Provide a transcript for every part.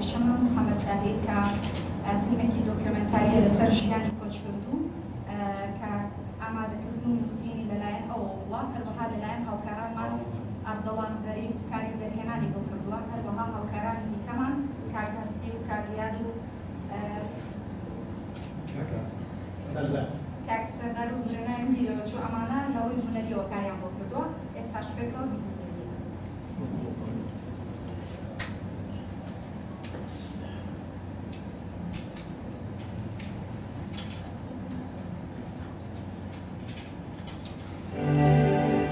شەمام محەمەد زاهیر کە فیلمێکی دۆکیۆمێنتارییە لەسەر ژیانی کۆچکردوو کە ئامادەکردن و نووسینی لەلایەن ئەوەوە بووە، هەروەها لەلایەن هاوکارانمان ئەردەڵان غەریب کاری دەرهێنانی بۆ کردووە، هەروەها هاوکارانی دیکەمان کاک هەستی و کاک ریاد و کاک سەردار و بژێ ناویم بیرەوە چوو، ئەمانە لە ڕووی هونەرییەوە کاریان بۆ کردووە، ئێستاش پێکەوە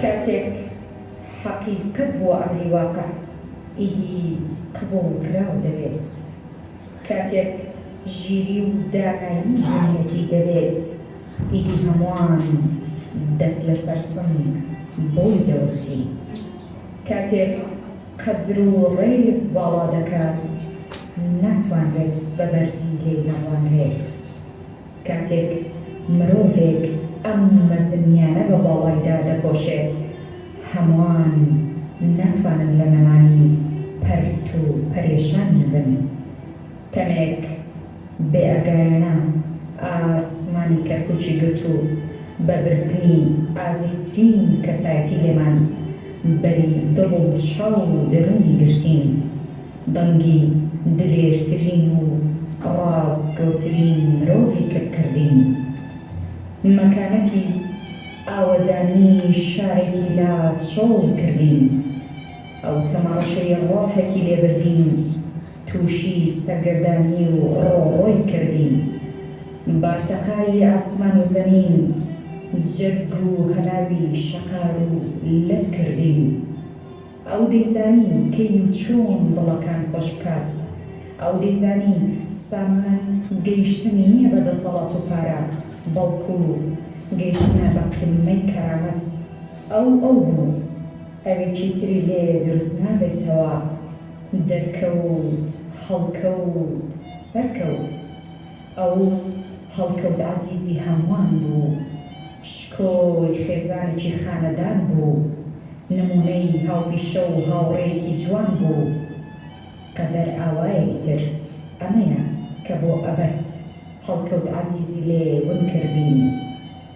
کاتێک حەقیقەت بووە ئەمری واقع ئیدی قبوڵ کراو دەبێت کاتێک ژیری و دانایی بوونیەتی دەبێت ئیدی هەمووان دەست لەسەر سنگ بۆی دەوەستین کاتێک قەدر و ڕێز باڵا دەکات ناتوانرێت بە بەرزی لێی نەڕوانرێت کاتێک مرۆڤێک ئەم مەزنیانە بە باڵایدا دەپۆشێت هەموان ناتوانن لە نەمانی پەرت و پەرێشان نەبن کەمێک بێ ئاگایانە ئاسمانی کەرکوکی گرت و بە بردنی ئازیزترین کەسایەتی لێمان بەری دڵ و چاو و دەرونی گرتین دەنگی دلێرترین و ڕاستگۆترین مرۆڤی کپ کردین مەکانەتی ئاوەدانی شارێکی لا چۆڵ کردین ئەو تەمەڕەشەی ڕۆحێکی لێبردین تووشی سەرگەردانی و ڕۆڕۆی کردین. بارتەقای ئاسمان و زەمین، جەرگ و هەناوی شەقار و لەت کردین. ئەو دەیزانی کەی و چۆن دڵەکان خۆش بکات. ئەو دەیزانی سامان گەیشتن نییە بە دەسەڵات و پارە، بەڵکو گەیشتنە بە قیممەی کەرامەت. ئەو ئەو بوو. ئەوێکی تری لێ دروست نابێتەوە، دەرکەوت هەڵکەوت سەرکەوت ئەو هەڵکەوت عەزیزی هەمووان بوو شکۆی خێزانێکی خانەدان بوو نموونەی هاوپیشە و هاوڕێیەکی جوان بوو قەدەر ئاوایە ئیتر ئەمەیە کە بۆ ئەبەد هەڵکەوت عەزیزی لێ ون کردین.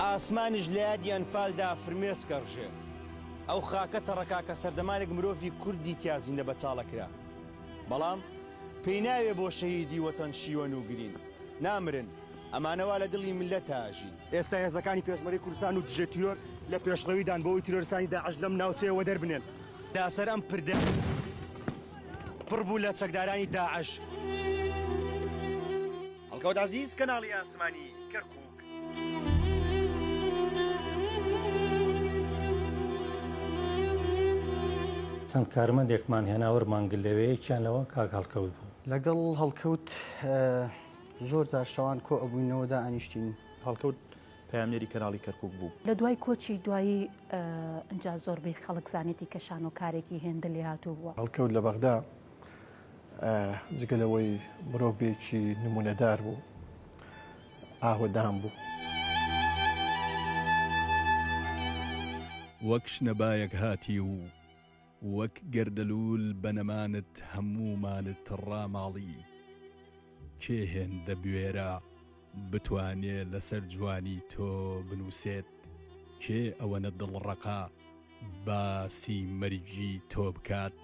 ئاسمانیش لە یادی ئەنفالدا فرمێسکە ڕژێ. ئەو خاکە تەڕکا کە سەردەمانێک مرۆڤی کوردی تیا زیندە بەچاڵە کرا. بەڵام پێی ناوێ بۆ شەهیدی وەتەن شیوەن و گرین. نامرن. ئەمانە وا لە دڵی میللەتا ئەژین. ئێستا هێزەکانی پێشمەرگەی کوردستان و دژە تیرۆر لە پێشڕەویدان بۆ ئەوەی تیرۆریستانی داعش لەم ناوچەیە وەدەر بنێن. تا سەر ئەم پردە پڕ بوو لە چەکدارانی داعش. هەڵکەوت عەزیز کەناڵی ئاسمانی کەرکوک. چەند کارمەندێکمان هێنا وەرمان گرت لەوێ یەکیان لەوە کاک هەڵکەوت بوو. لەگەڵ هەڵکەوت زۆر جار شەوان کۆ ئەبووینەوە دائەنیشتین. هەڵکەوت پەیامنێری کەناڵی کەرکووک بوو. لە دوای کۆچی دوایی ئنجا زۆربەی خەڵک زانیێتی کە شانۆکارێکی هێندە لێهاتوو بووە. هەڵکەوت لە بەغدا جگە لەوەی مرۆڤێکی نموونەدار بوو ئاوەدان بوو. وەک شنەبایەک هاتی و وەک گەردەلوول بە نەمانت هەموومانت ڕاماڵی. کێ هێندە بوێرە بتوانێ لەسەر جوانی تۆ بنووسێت؟ کێ ئەوەنە دڵڕەقە؟ باسی مەرگی تۆ بکات.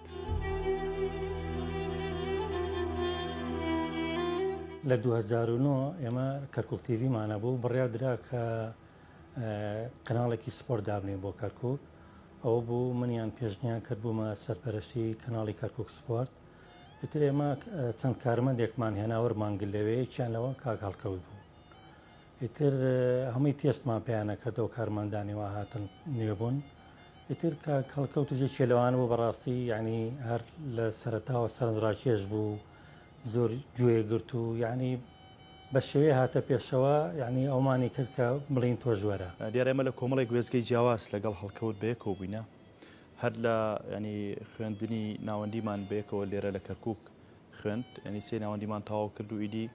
لە دوو هەزار و نۆ ئێمە کەرکک تیڤمانە بوو بڕیا درا کە کەناڵێکی سپۆر دابنێ بۆ کەرکک ئەوە بوو منیان پێشنیان کرد بوومە سەرپەرشتی کەناڵی کەرکک سپۆرت ئیتر ئێمە چەند کارمەندێکمان هێناوەرمانگل لەوەیەکیان لەوە کاک هەڵکەوت بوو ئیتر هەمووی تێستمان پێیانە کردەوە کارمەندانی وا هاتن نوێ بوون ئیتر کە کەڵکەوت و جێکی لەوان بۆ بەڕاستی یعنی هەر لە سەرتاوە سەرنجڕاکێش بوو زۆر گوێ گرت و یعنی بە شێوەیە هاتە پێشەوە یعنی ئەومانی کرد کە بڵین تۆ ژوەرە دیارە ئێمە لە کۆمەڵێک وێستگەی جیاواز لەگەڵ هەڵکەوت بەیەکەوە بووینە هەر لە ینی خوێندنی ناوەندیمان بەیەکەوە لێرە لە کەرکک خوێند یعنی سێ ناوەندیمان تەواو کرد و ئیدی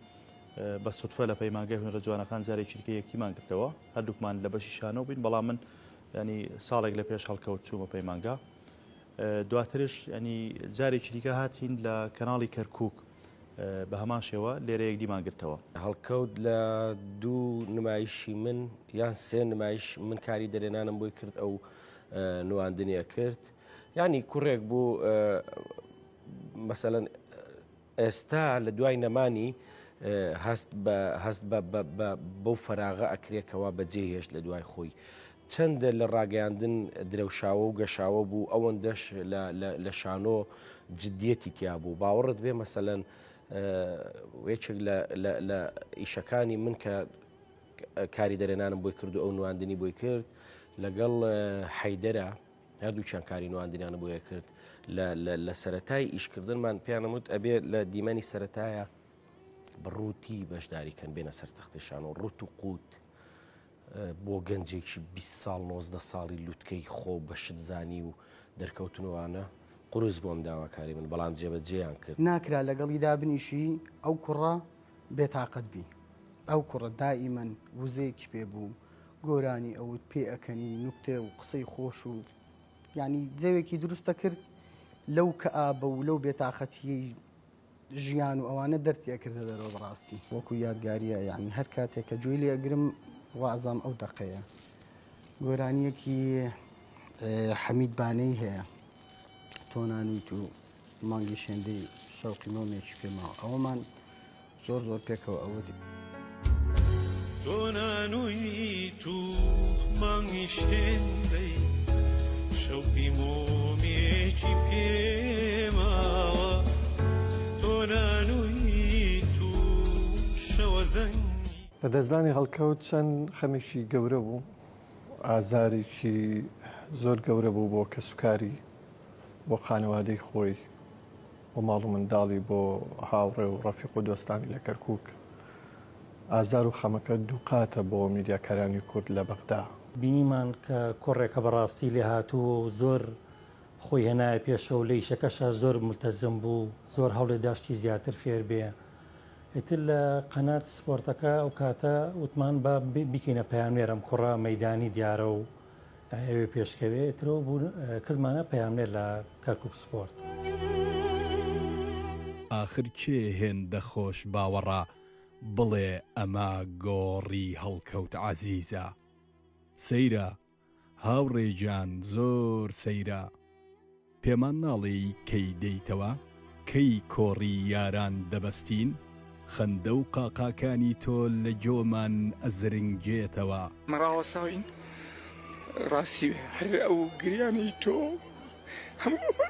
بە سوتفە لە پەیمانگای هونەرە جوانەکان جارێکی دیکە یەکیمان کردەوە هەردووکمان لە بەشی شانەوە بین بەڵام من ینی ساڵێک لە پێش هەڵکەوت چوومە پەیمانگا دواترش ینی جارێکی دیکە هاتین لە کەناڵی کەرکک بە هەمان شێوە لێرە یەک دیمان گرتەوە هەڵکەوت لە دوو نمایشی من یان سێ نمایش من کاری دەرێنانم بۆی کرد ئەو نواندنیە کرد. یانی کوڕێک بوو مەسەەن ئێستا لە دوای نەمانی هەست هەست بەو فەراغە ئەکرێکەوە بەجێ هێشت لە دوای خۆی. چەندە لە ڕاگەیاندن درەوشاوە و گەشاوە بوو ئەوەندەش لە شانۆ جددیەتی تیا بوو باوەڕت بێ مەسەەن وێچێک لە ئیشەکانی من کە کاری دەرێنانم بۆی کرد و ئەو نواندنی بۆی کرد لەگەڵ حەیدەرە هەردووکیان کاری نواندنیان بۆیە کرد لە سەتای ئیشکردنمان پێیانم وت ئەبێ لە دیمەنی سەتایە بڕووتی بەشداریکەن بێنە سەر تەختیشان و ڕوت و قووت بۆ گەنجێکی 20 ساڵ 90 ساڵی لوتکەی خۆ بە شتزانی و دەرکەوتنوانە قرس بۆم داواکاری من بەڵام جێبەجێیان کرد ناکرا لەگەڵی دابنیشی ئەو کوڕە بێتاقەت بی ئەو کوڕە دائیمەن وزەیەکی پێ بوو گۆرانی ئەوت پێ ئەکەنی نوکتە و قسەی خۆش و یانی جەوێکی دروست ئەکرد لەو کەئابە و لەو بێتاقەتییەی ژیان و ئەوانە دەرتی ئەکردە دەرەوە بەڕاستی وەکو یادگارییە یانی هەر کاتێک کە گوێی لێ ئەگرم وا ئەزانم ئەو دەقەیە گۆرانییەکی حەمید بانەی هەیە تۆ نانیت و مانگیش هێندەی شەوقی مۆمێکی پێماوە ئەوەمان زۆر زۆر پێکەوە ئەوە دی تۆنانوی تو مانگیش هێندەی شەوقی مۆمێکی پێماوە تۆنانوی تو شەوە زەنگ لەدەستدانی هەڵکەوت چەند خەمێکی گەورە بوو ئازارێکی زۆر گەورە بوو بۆ کەسوکاری بۆ خانەوادەی خۆی و ماڵ و منداڵی بۆ هاوڕێ و ڕەفیق و دۆستانی لە کەرکووک ئازار و خەمەکە دووقاتە بۆ میدیاکارانی کورد لە بەغدا. بینیمان کە کوڕێکە بەڕاستی لێهاتوو و زۆر خۆی هێنایە پێشەوە لە ئیشەکەشا زۆر مولتەزم بوو زۆر هەوڵێدا شتی زیاتر فێر بێ ئیتر لە قەنات سپۆرتەکە ئەو کاتە وتمان با بیکەینە پەیامنێر ئەم کوڕە مەیدانی دیارە و ئەوێ پێشکەوێ ئترەوە بوون کردمانە پەیامنێر لە کەرکک سپۆرت. ئاخر کێ هێندە خۆش باوەڕە بڵێ ئەمە گۆڕی هەڵکەوت عەزیزە سەیرە هاوڕێ گیان زۆر سەیرە. پێمان ناڵێی کەی دێیتەوە؟ کەی کۆڕی یاران دەبەستین؟ خەندە و قاقاکانی تۆ لە گۆمان ئەزرنگێتەوە. مەڕاوەساوین ڕاستی بێ هەر ئەو گریانەی تۆ هەموو ئەمە.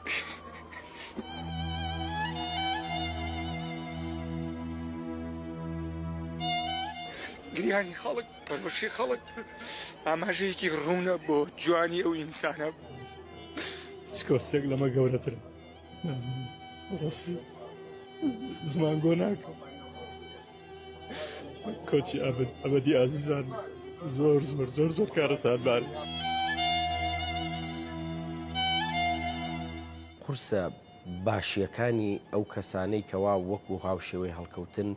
گریانی خەڵک. پەرۆشی خەڵک ئاماژەیەکی ڕوونە بۆ جوانی ئەو ئینسانە چکۆسێک لەمە گەورەتر زمان گۆ ناکە کۆچی ئابد ئەبدی ئازیزان زۆر زۆر زۆر زۆر کارە سادبار. قورسە باشیەکانی ئەو کەسانەی کەوا وەکو هاوشێوەی هەڵکەوتن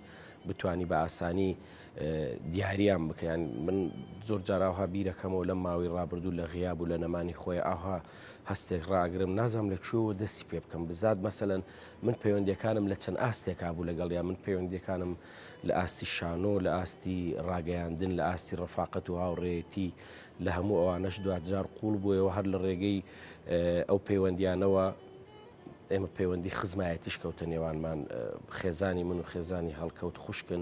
بتانی بە ئاسانی دیاریان بکەیان من زۆر جاراوها بیرەکەمەوە لەم ماوەی ڕابردوو لە غیاب و لە نەمانی خۆی ئاها هەستێک ڕاگرم نازام لە کوێوە دەستی پێ بکەم بزات مەسەن من پەیوەندەکانم لە چەند ئاستێکا بوو لەگەڵ یا من پەیوەندەکانم لە ئاستی شانۆ لە ئاستی ڕاگەیاندن لە ئاستی ڕفاقەت و هاوڕێتی لە هەموو ئەوانەش دوجار قوڵ بووەوە هەر لە ڕێگەی ئەو پەیوەندیانەوە ئێمە پەیوەندی خزمایەتیش کەوتە نێوانمان خێزانی من و خێزانی هەڵکەوت خوشکن.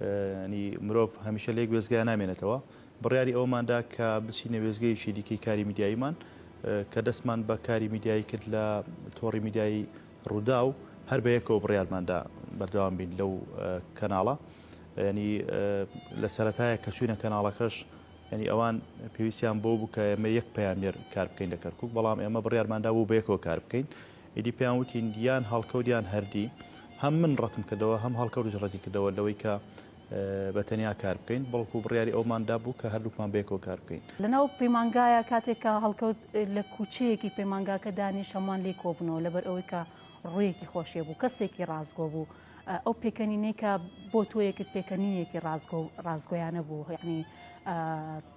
یانی مرۆڤ هەمیشە لە یەک وێستگەیە نامێنێتەوە، بڕیاری ئەوەمان دا کە بچینە وێستگەیەکی دیکەی کاری میدیاییمان، کە دەستمان بە کاری میدیایی کرد لە تۆڕی میدیایی رووداو، هەر بە یەکەوە بڕیارمان دا بەردەوام بین لەو کەناڵە، یانی لە سەرەتایە کە چووینە کەناڵەکەش یانی ئەوان پێویستیان بەوە بوو کە ئێمە یەک پەیامنێر کار بکەین لە کەرکووک، بەڵام ئێمە بڕیارمان دا بوو بە یەکەوە کار بکەین. ئیدی پێیان وتین یان هەڵکەوت یان هەردی، هەم من ڕەتم کردەوە هەم هەڵکەوتیش ڕەتی کردەوە لەوەی کە بە تەنیا کار بکەین، بەڵکو بڕیاری ئەومان دا بوو کە هەردووکمان بەیەکەوە کار بکەین. لەناو پەیمانگایە کاتێک کە هەڵکەوت لە کوچەیەکی پەیمانگاکە دانیشت هەمووان لێی کۆبوونەوە لەبەر ئەوەی کە ڕوویەکی خۆشێ بوو کەسێکی ڕاستگۆ بوو ئەو پێکەنینەی کە بۆ تۆ یەکرد پێکەنینێکی ڕاستگۆ و ڕاستگۆیانە بوو یەعنی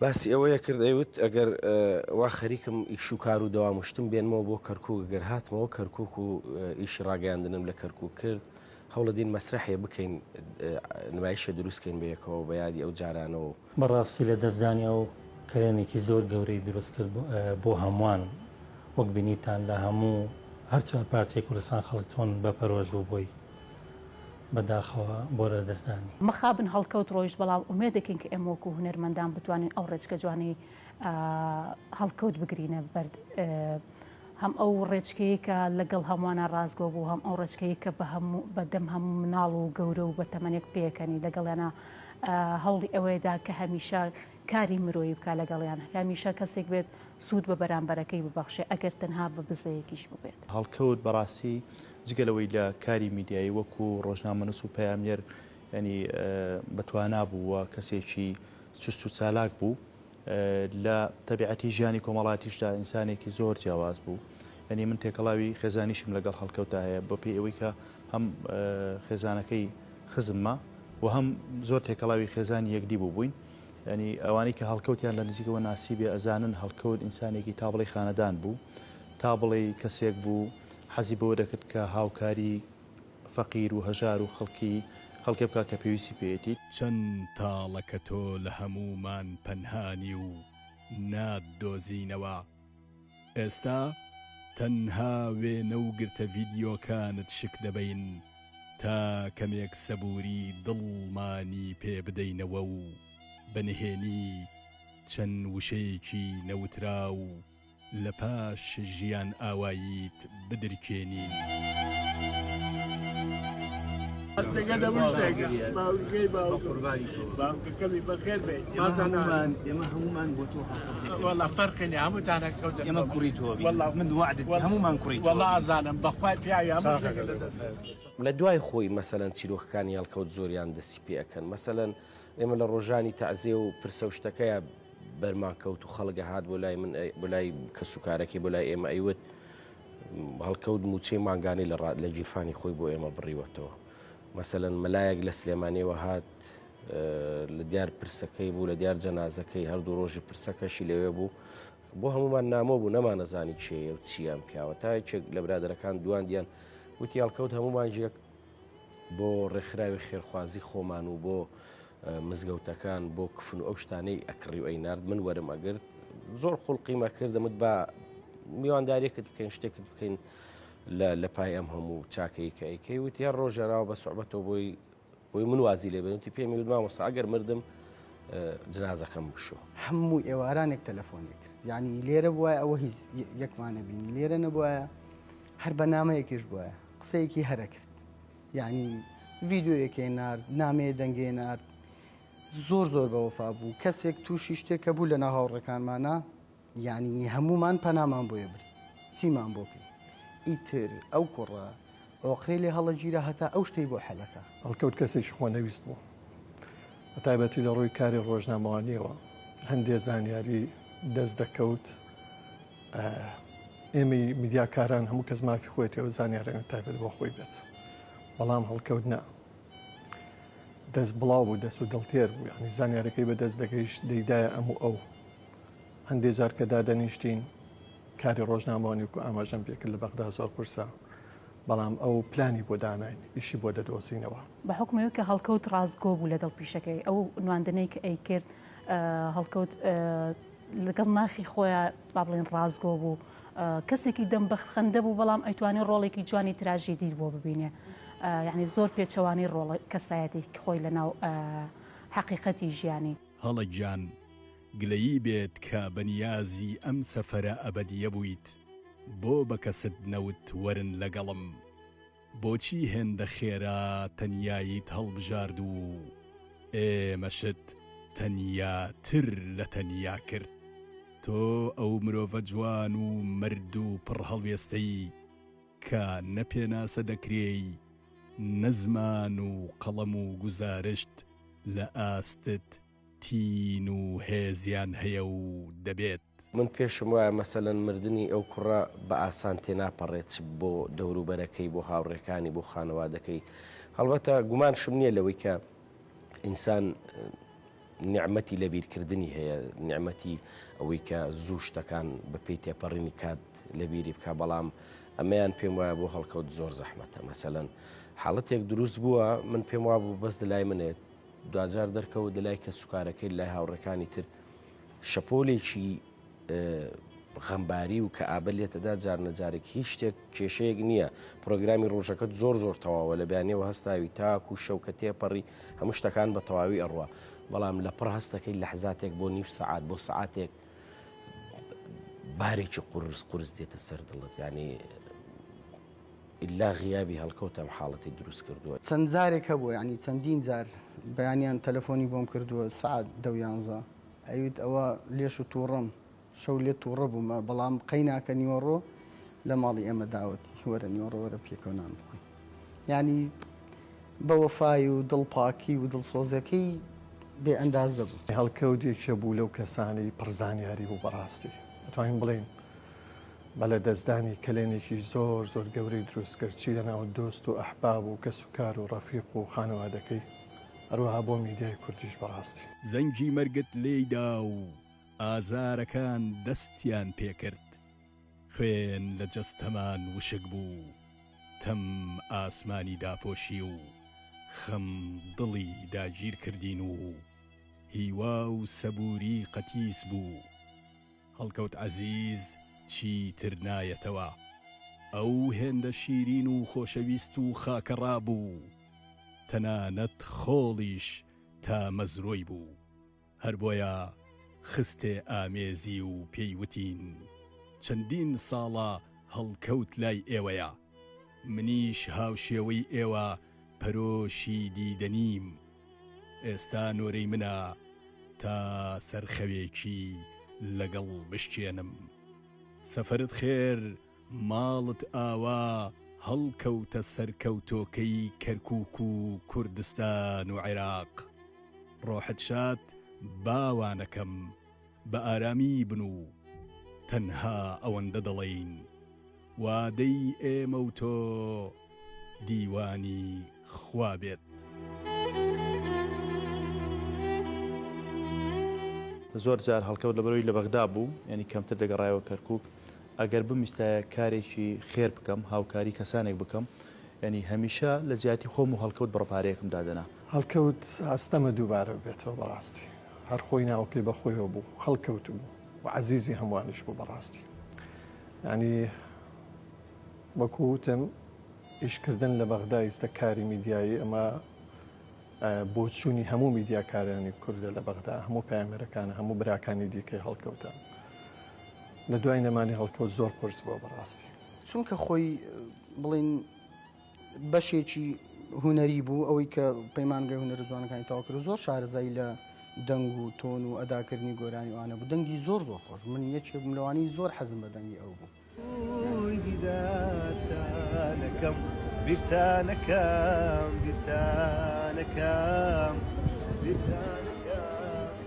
باسی ئەوەی کرد ئەیوت ئەگەر وا خەریکم ئیش و کار و دەوام و شتم بێنمەوە بۆ کەرکووک گەر هاتمەوە کەرکووک و ئیشی ڕاگەیاندنم لە کەرکووک کرد هەوڵە دین مەسرحێ بکەین نمایشە دروستکەین بەیەکەوە بە یادی ئەو جارانەوە و. بەڕاستی لەدەستدانی ئەو کەلێنێکی زۆر گەورەی دروست کرد بۆ هەمووان وەک بینیتان لە هەموو هەر چوار پارچەی کوردستان خەڵک چۆن بەپەرۆش بوو بۆی. بە داخەوە بۆ لەدەستدانی. مەخابن هەڵکەوت ڕۆیشت بەڵام ئومێدێکین کە ئێمە وەکو هونەرمەندان بتوانین ئەو ڕێچکە جوانەی هەڵکەوت بگرینە بەر هەم ئەو ڕێچکەیەی کە لەگەڵ هەمووانە ڕاستگۆ بوو هەم ئەو ڕێچکەیەی کە بە هەموو بە دەم هەموو مناڵ و گەورە و بە تەمەنێک پێکەنی لەگەڵیانا هەوڵی ئەوەیدا کە هەمیشە کاری مرۆیی بکە لەگەڵیان هەمیشە کەسێک بێت سوود بە بەرامبەرەکەی ببەخشێ ئەگەر تەنها بە بزەیەکیش ببێت. هەڵکەوت بەڕاستی جگە لەوەی لە کاری میدیایی وەکو ڕۆژنامەنووس و پەیامنێر یانی بە توانا بوو و کەسێکی چست و چالاک بوو لە تەبیعەتی ژیانی کۆمەڵاتیشدا ئینسانێکی زۆر جیاواز بوو یعنی من تێکەڵاوی خێزانیشم لەگەڵ هەڵکەوتا هەیە بە پێی ئەوەی کە هەم خێزانەکەی خزممە و هەم زۆر تێکەڵاوی خێزانی یەکدی بوو بووین ینی ئەوانەی کە هەڵکەوتیان لە نزیکەوە ناسی بێ ئەزانن هەڵکەوت ئینسانێکی تا بڵێ خانەدان بوو تا بڵێ کەسێک بوو حەزی بەوە دەکرد کە هاوکاری فەقیر و هەژار و خەڵکی خەڵکێ بکا کە پێویستی پێیەتی. چەن تاڵە کە تۆ لە هەموومان پەنهانی و ناتدۆزینەوە. ئێستا تەنها وێنە و گرتە ڤیدیۆکانت شک دەبەین تا کەمێک سەبووری دڵمانی پێ بدەینەوە و بە نهێنی چەن وشەیەکی نەوتراو، لە پاش ژیان ئاواییت بدرکێنین. لە دوای خۆی مەسەلەن چیرۆکەکانی هەڵکەوت زۆریان دەستی پێ ئەکەن مەسەلەن ئێمە لە ڕۆژانی تەعزێ و پرسە و شتەکەیا. بەرمان کەوت و خەڵک ئەهات بۆ لای من بۆ لای کەس و کارەکەی بۆ لای ئێمە ئەیوت هەڵکەوت موچەی مانگانەی لە ڕات لە گیرفانی خۆی بۆ ئێمە بڕیوەتەوە مەسەەن مەلایەک لە سلێمانەوە هات لە دیار پرسەکەی بوو لە دیار جەنازەکەی هەردوو ڕۆژی پرسەکەشی لەوێ بوو بۆ هەمومان نامۆ بوو نەمانەزانی چێە و چیان پیاوە تاکێک لە برادەرەکان دوان دیان وتی هەڵکەوت هەمومان ژێک بۆ ڕێکخراوی خێرخوازی خۆمان و بۆ مزگەوتەکان بۆ کفن و ئەو شتانەی ئەکڕی و ئەینارد من وەرم ئەگرت زۆر خوڵقیمە کردمت بە میواندارێکت بکەین شتێکت بکەین لە پای ئەم هەموو چاکەی کە ئەیکەی وتی هەر ڕۆژێراوە بە سوعبەتەوە بۆی بۆی من وازی لێ بێنتی پێمی وت مامۆسا ئەگەر مردم جنازەکەم بشو هەموو ئێوارانێک تەلەفۆنێک کرد یعنی لێرە بووە ئەوە هیچ یەکمانە بینی لێرە نەبووە هەر بەنامەیەکیش بووە قسەیەکی هەرە کرد یعنی ڤیددیوەکێ نرد نامەیە دەنگێ نرد زۆر زۆر بەوەفا بوو کەسێک تووشی شتێکە بوو لە ناو هاوڕەکانمانە یعنی هەمومان پەنامان بۆیە برد چیمان بۆ کرد ئیتر ئەو کوڕە ئۆقرێ لێ هەڵەگیرە هەتا ئەو شتەی بۆ حەلەکە هەڵکەوت کەسێکی خۆ نەویست بوو بە تایبەتی لە ڕووی کاری ڕۆژنامەوانیەوە هەندێ زانیاری دەست دەکەوت ئێمەی میدیاکاران هەموو کەس مافی خۆێتی ئەو زانانیارەێن تایبەت بۆ خۆی بێت بەڵام هەڵکەوت نا دەست بڵاو بوو دەست و دڵتێر بوو ینی زانانیارەکەی بە دەست دەگەیشت دەیدایە ئەم و ئەو هەندێ جار کە دادەنیشتین کاری ڕۆژنامەوانی و ئاماژەم پێکرد لە بەغدا زۆر قورسە بەڵام ئەو پلانی بۆ داناین ئیشی بۆ دەدۆزینەوە بە حکومەوە کە هەڵکەوت ڕاستگۆ بوو لەگەڵ پیشەکەی ئەو نواندنەی کە ئەی کرد هەڵکەوت لەگەڵ ناخی خۆیان با بڵێن ڕاستگۆ بوو کەسێکی دەم بەخندە بوو بەڵام ئەیتوانێت ڕۆڵێکی جوانی تراژی دیر بۆ ببینێ یعنی زۆر پێچەوانی ڕۆڵ کەسایەتی خۆی لە ناو حقیقەتی ژیانی هەڵە گیان گلەیی بێت کە بەنیازی ئەم سەفەرە ئەبەدیە بوویت بۆ بەکەست نەوت وەرن لەگەڵم. بۆچی هێندە خێرا تەنیاییت هەڵبژارد و ئێمەشت تەنیاتر لە تەنیا کرد؟ تۆ ئەو مرۆڤە جوان و مەرد و پڕ هەڵوێستەی کە نە پێناسە دەکرێی، نە زمان و قەڵەم و گوزارشت لە ئاستت تین و هێزیان هەیە و دەبێت. من پێشم وایە مەسەلەن مردنی ئەو کوڕە بە ئاسان تێناپەڕێت چ بۆ دەوروبەرەکەی بۆ هاوڕێکانی بۆ خانەوادەکەی هەڵبەتە گومانشم نییە لەوەی کە ئینسان نیعممەتی لەبیرکردنی هەیە نیعممەتی ئەوەی کە زوو شتەکان بەپی تێپەڕینی کات لەبیری بکە بەڵام ئەمەیان پێم وایە بۆ هەڵکەوت زۆر زەحمەتە مەسەەن حاڵەتێک دروست بووە من پێم وابوو بەس لای منێت دوجار دەرکەوت لە لای کە سوکارەکەی لای هاوڕەکانی تر شەپۆلێکی غەمباری و کە ئابە لێتەدا جار نەجارێک هیچ شتێک کێشەیەک نییە پرۆگرامی ڕۆژەکەت زۆر زۆر تەواوە لە بیانەوە هەستاوی تاکو و شەوکە تێپەڕی هەموو شتەکان بە تەواوی ئەڕوە بەڵام لە پڕ هەستەکەی لەحزاتێک بۆ نیو سعات بۆ سعاتێک بارێکی قورس قورس دێتە سەر دڵت ینی ئیلا غیابی هەڵکەوت ئەم حاڵەتی دروست کردووە. چەند جارێک هەبووە یانی چەندین جار بەیانیان تەلەفۆنی بۆم کردووە سەعات دە و یانزە ئەیوت ئەوە لێش و توڕەم شەو لێت توڕە بوومە بەڵام قەیناکە نیوەڕۆ لە ماڵی ئێمە داوەتی وەرە نیوەڕۆ وەرە پێکەوە نان بخۆین یانی بە وەفای و دڵ پاکی و دڵسۆزەکەی بێ ئەندازە بوو. هەڵکەوت یەکێ بوو لەو کەسانەی پڕ زانیاری بوو بەڕاستی دەتوانین بڵێین بە لەدەستدانی کەلێنێکی زۆر زۆر گەورەی دروست کرد چی لەناو دۆست و ئەحباب و کەسوکار و ڕەفیق و خانەوادەکەی هەروەها بۆ میدیای کوردیش بەڕاستی. زەنگی مەرگت لێی دا و ئازارەکان دەستیان پێ کرد خوێن لە جەستەمان وشک بوو تەم ئاسمانی داپۆشی و خەم دڵی داگیر کردین و هیوا و سەبووری قەتیس بوو. هەڵکەوت عەزیز چیتر نایەتەوە. ئەو هێندە شیرین و خۆشەویست و خاکەڕا بوو، تەنانەت خۆڵیش تامەزرۆی بوو. هەر بۆیە خستێ ئامێزی و پێی وتین، چەندین ساڵە هەڵکەوت لای ئێوەیە. منیش هاوشێوەی ئێوە پەرۆشی دیدەنیم. ئێستا نۆرەی منە تا سەر خەوێکی لەگەڵ بشکێنم. سەفەرت خێر ماڵت ئاوا هەڵکەوتە سەرکەوتۆکەی کەرکوک و کوردستان و عێراق. ڕۆحت شاد باوانەکەم بە ئارامی بن و تەنها ئەوەندە دەڵێین. وادەی ئێمە و تۆ دیوانی خوا بێت. زۆر جار هەڵکەوت لەبەرئەوەی لە بەغدا بوو یانی کەمتر دەگەڕایەوە کەرکوک ئەگەر بمویستایە کارێکی خێر بکەم هاوکاری کەسانێک بکەم یانی هەمیشە لە جیاتی خۆم و هەڵکەوت بڕە پارەیەکم دادەنا. هەڵکەوت ئەستەمە دووبارە ببێتەوە بەڕاستی هەر خۆی ناوەکەی بەخۆیەوە بوو هەڵکەوت بوو. و عەزیزی هەمووانیش بوو بەڕاستی یانی وەکو وتم ئیشکردن لە بەغدا ئیستە کاری میدیایی ئەمە بۆچوونی هەموو میدیاکارانی کوردە لە بەغدا هەموو پامەرەکان هەموو براکانی دیکەی هەڵکەوتە لە دوای نەمانی هەڵکەوت زۆر قرس بۆ بەڕاستی چونکە خۆی بڵین بەشێکی هونەری بوو ئەوەی کە پەیمانگەی هونەر زوانەکانی تاواکرد زۆر شارەزایی لە دەنگ و تۆن و ئەداکردنی گۆرانی وانە بوو دەنگی زۆر زۆر خۆش من یەکێ بملوانی زۆر حەزم بە دەنگی ئەو بوو. بیرتانەکەم بیرتانەکەم بیرتانەکەم بیرتانەکەم